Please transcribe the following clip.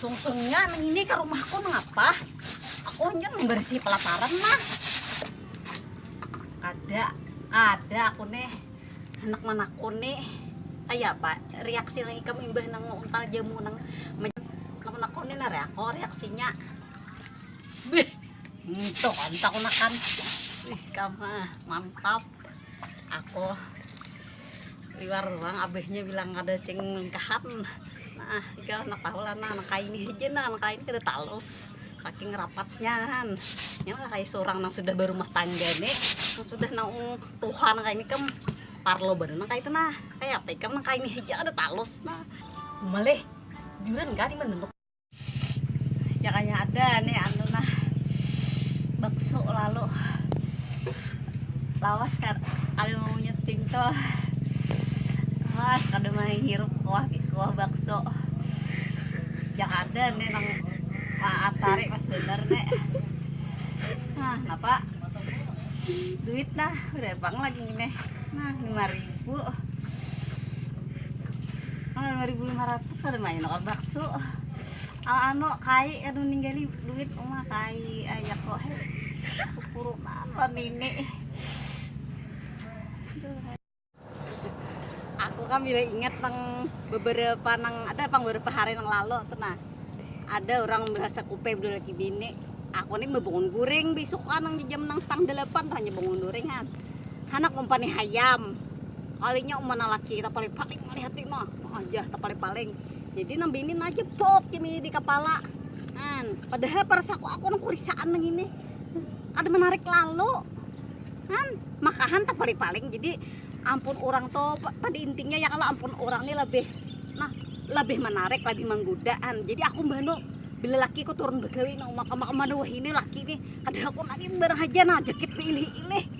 sungsungnya ini ke rumahku mengapa aku hanya membersih pelaparan mah ada ada aku nih anak manakku nih ayah pak reaksi lagi kami imbah nang untal jamu nang anak manakku nih nare aku reaksinya Bih, itu mantap makan. Ih, kamu mantap. Aku liwar ruang abahnya bilang ada cing lengkahan. Nah, jika anak tahu lah, nah, anak kain ini aja, nah, anak kain kita talus saking rapatnya kan ya kayak seorang yang sudah berumah tangga nih sudah nang Tuhan kayak ini kem parlo bener nang kayak itu nah kayak apa kem nang kayak ini aja ada talus nah malih juran gak di menenuk Jakanya ada nih anu nah bakso lalu lawas kan ada mau nyeting tuh lawas kada mau hirup kuah kuah bakso jak ada nih nang atari pas bener nih nah napa duit nah udah bang lagi nih nah lima ribu nah lima ribu lima ratus Kada main akan bakso. Al ano kai kada meninggali duit uma kai ayak kok he. Kukurunan lah nini. Aku kan bila ingat nang beberapa nang ada pang beberapa hari nang lalu tuh nah. Ada orang merasa kupe berdua laki bini. Aku nih bebangun guring besok kan nang jam nang setang delapan tuh hanya bangun guring kan. Hanak umpan nih hayam. Kalinya umpan laki kita paling paling melihat mah. Ajah tepaling-paling. Jadi nang bini nah jepok ini di kepala. Kan, padahal perasaku aku nang kurisaan nang ini. Ada menarik lalu. Kan, makahan tepaling-paling. Jadi ampun orang tuh pada intinya ya kalau ampun orang ini lebih nah lebih menarik, lebih menggodaan. Jadi aku bano bila laki ku turun begawi nang makam-makam wah ini laki nih. Kadang aku lagi berhaja nah jakit pilih-pilih.